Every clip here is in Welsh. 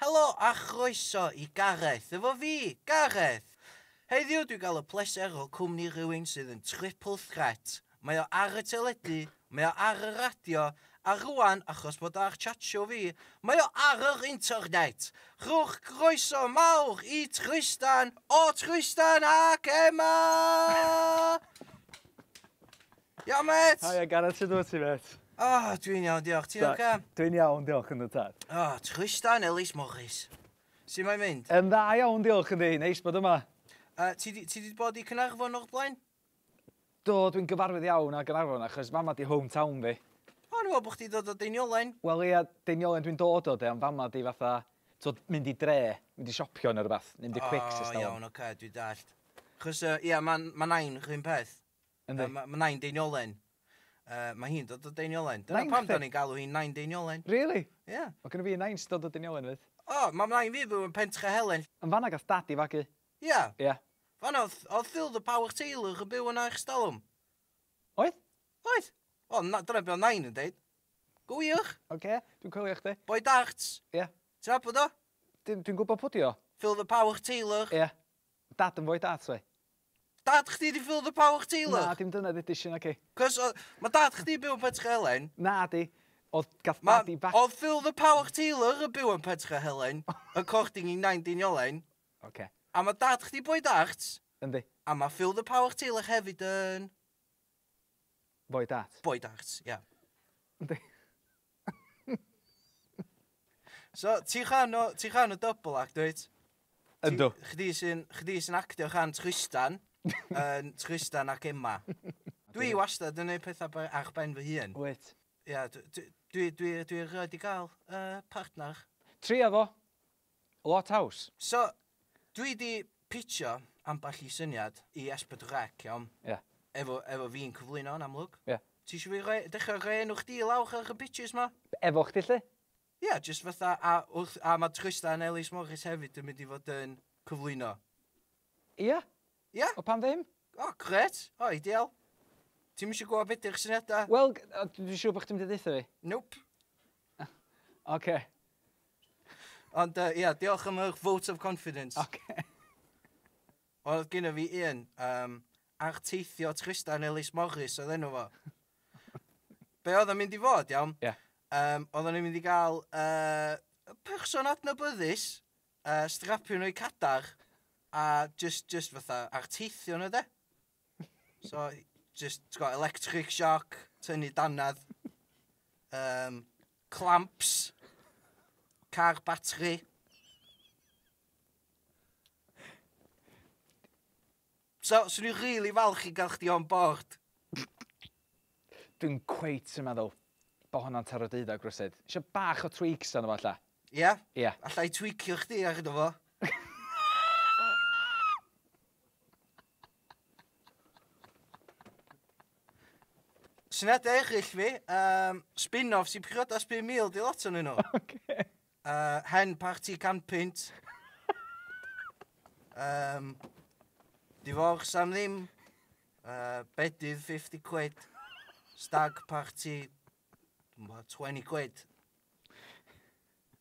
Helo a chroeso i Gareth efo fi, Gareth! Heddiw dwi'n cael y pleser o cwmni rhywun sydd yn triple threat, mae o ar y teledu, mae o ar y radio, a rŵan, achos bod o ar Chatshow fi, mae o ar yr internet! Rhowch groeso mawr i Trystan o Trystan ac Emma! Iawn, met! Haia, Gareth, sut wyt ti, met? O, oh, dwi'n iawn, diolch. Ti'n oce? Dwi'n iawn, diolch yn y tad. O, oh, trwysta yn Elis Morris. Sut mae'n mynd? Yn dda iawn, diolch yn di. Neis bod yma. Uh, ti, di, ti di bod i Cynarfon o'r blaen? Do, dwi'n gyfarwydd iawn â Gynarfon achos fama di hometown fi. O, oh, ni'n bod chdi dod o Deiniolen. Wel, ia, Deiniolen dwi'n dod o de, ond fama di fatha, tod, mynd i dre, mynd i siopio neu rhywbeth, mynd i oh, quick system. O, iawn, oce, okay, dwi'n dallt. Chos, uh, ia, mae ma nain rhywun peth. Yndi. Yy ma' ma' Nain Deiniolen yy ma' hi'n dod o Deiniolen. Dyna Nain pam chdi? 'dan ni'n galw hi'n Nain Deiniolen. Rili? Ia. Ma' gynno fi nain sy dod o Deiniolen 'fyd. O! Ma' nain fi byw yn Pentchehelen. Yn fanna gath dad i fagu. Ia. Ia. Fanna o'dd o'dd Phil the Power Taylor yn byw yna ers dalwm. Oedd? Oedd. Wel na- dyna be' o' nain yn deud. Go wych. Oce, dwi'n coelio chdi. Boi darts. Ia. Ti nabod o? Dwi dwi'n gwbo pwdi o. Phil the Power Taylor. Ia. Dad yn foi darts oedd? Dad chdi di Phil the Power Taylor? Na dim dyna ddedis i naci? Cos o- ma' dad chdi byw yn Pentre Helen. Nadi. Odd gath Ma- dad i fac-... Odd Phil the Power Taylor yn byw yn Pentre Helen according i Nain Deiniolen. Oce. A ma' dad chdi boi dart. Yndi. A ma' Phil the Power Taylor hefyd yn... Boi dat. Boi dat, ia. Yndi. So, ti'n rhan o, ti'n rhan o double act, dwyt? Yndw. Chdi sy'n, chdi sy'n actio rhan Tristan, yn Tristan ac Emma. Dwi wastad yn neud pethau by- a'ch ben fy hun. Wyt. Ia, dwi, dwi, dwi, dwi erioed di gael uh, partner. Tria fo. Lot haws! So, dwi 'di pitsio ambell i syniad i Esped Rec, iawn? Ie. Efo, efo fi'n cyflwyno, yn amlwg. Ie. Ti isio fi roi, dechra roi enw chdi i lawr ar y pitches 'ma? Efo chdi 'lly? Ie, jyst fatha, a wrth, a ma' Trystan Ellis Morris hefyd yn mynd i fod yn cyflwyno. Ie. Ia? O pam ddim? O, gret. O, ideal. Ti'n mysio gwybod beth yw'ch syniadau? Wel, dwi'n siŵr bod chdi'n mynd i ddeitha fi. Nope. Oce. Okay. Ond, uh, ia, diolch am eich vote of confidence. Oce. Okay. Oedd gyda fi un, um, arteithio Tristan Ellis Morris oedd enw fo. Be oedd yn mynd i fod, iawn? Ie. Yeah. Um, oedd yn mynd i gael uh, person adnabyddus Yy strapio nhw i cadar a jyst jyst fatha ar teithio nhw 'de? So jyst t'go' electric shock, tynnu dannedd, yym clamps, car batri. So, swn i'n rili falch i gael chdi on board. Dwi'n cweit yn meddwl bo honna'n taro deuddag rywsut. Isio bach o tweaks arno fo alla. Ia? Ia. Alla i tweakio chdi ar yno fo. Syniadau eraill fi, um, spin-offs i priodas 5,000 'di lot o'n nhw. Ocê. Uh, hen parti canpynt. um, divorce am ddim. Uh, bedydd 50 quid. Stag parti 20 quid.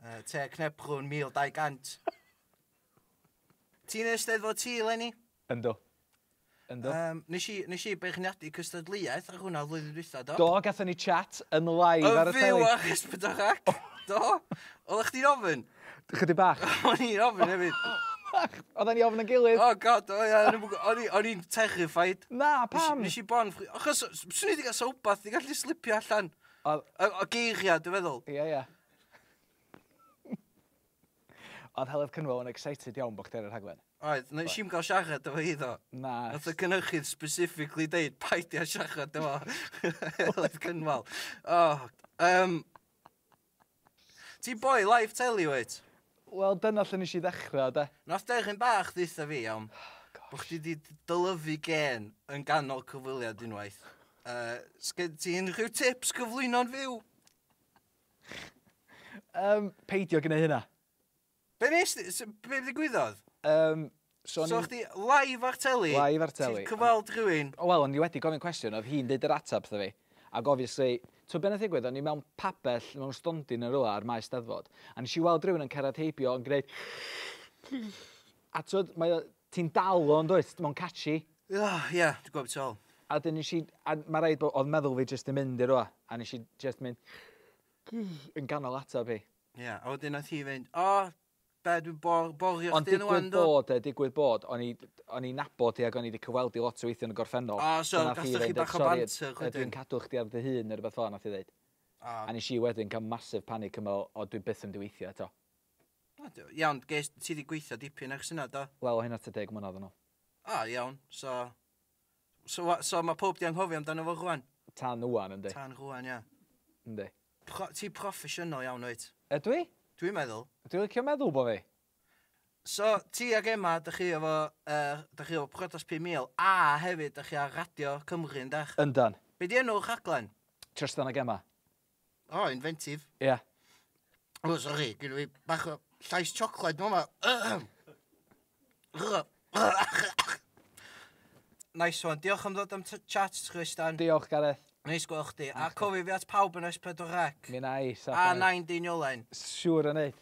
Uh, te cnepgrwn 1200. Ti'n eisteddfod ti, Lenny? Ynddo. Yndw. Yym nes i nes i beirniadu cystadleuaeth ar hwnna flwyddyn dwytha do? Do gathon ni chat yn live ar y teli. Yn fyw ar Esbydwch Ac? Do? Odda chdi'n ofyn? Chydig bach. O'n i'n ofyn hefyd. Odda ni ofn yn gilydd. Oh god o ia o'n i'm o'n i o'n i'n terrified. Na pam? Nes i bon ffri- achos s- swn i 'di ga'l sa wbath 'di gallu slipio allan. O'dd... O o geiria dwi feddwl. Ia ia. Oedd Heledd Cynwal yn excited iawn bod chdi ar y rhaglen? Oedd, nes i'm gael siarad efo hi ddo. Na. Nath y cynhyrchydd specifically deud paid â siarad efo Heledd Cynwal. O, um, Ti'n boi live telly wyt? Wel dyna lle nes i ddechrau de. Nath deryn bach ddeutha fi iawn oh, bod chdi di dylyfu gen yn ganol cyfwiliad unwaith. Uh, Sgen ti unrhyw tips cyflwyno'n fyw? Yym, peidio gwneu hynna. Be nes di? S- Be ddigwyddodd? Yym, so So o'n chdi live ar teli? Live ar teli. Ti'n cyfweld rhywun? O, Wel, o'n i wedi gofyn cwestiwn, oedd hi'n deud yr ateb wrtho fi. Ac obviously, ti'n be nath ddigwydd, o'n i mewn pabell, mewn stondin yn rhywle ar maes steddfod, a nes i weld rhywun yn cerdded heibio yn gwneud... A ti'n mae o, Ti'n dal o yndwyt? Mae'n catchy. Ugh, ie, dwi'n gwybod beth ti'n feddwl. A wedyn nes i... A mae rhaid bod... Oedd meddwl fi jyst yn mynd i rywle, a nes i jyst mynd yn ganol ateb hi. Ie, yeah, a wedyn nath hi fynd, o, oh, be, dwi'n bor, borio chdi yn wan, do? Ond digwydd bod, digwydd bod, o'n i, o'n i'n nabod i ac o'n i wedi cyfweld i lot o weithio yn y gorffennol. O, so, gathoch chi bach o banter wedyn? Dwi'n cadw chdi ar dy hun neu rhywbeth fel yna, nath i ddeud. A nes i wedyn cael massive panic yn meddwl, o, dwi byth yn mynd i weithio eto. O, do. Iawn, ges, ti di gweithio dipyn eich syniad do? Wel, o hynna ta deg mlynedd yn ôl. O, iawn, so... So, wa- so mae pob di anghofio amdano fo rwan? Tan ŵan, yndi. Tan rwan, ia. Yndi. Pro, ti proffesiynol iawn, wyt? Ydw i? Dwi'n meddwl. Dwi'n licio meddwl bo fi. So, ti ag Emma, dych chi efo, uh, dych chi efo Priodas 5000, a hefyd dych chi ar Radio Cymru, yndych? Yndan. Be di enw'r rhaglen? Trystan ag Emma. O, inventive. Ia. O, sori, gyda fi bach o llais chocolate nhw yma. Nice one. Diolch am ddod am t- chat, Chris Dan. Diolch, Gareth. Neis gweld chdi. A cofi fi at pawb yn S4C. Mi na i, saff A yn neud. nain deiniolen. Siŵr yn neud.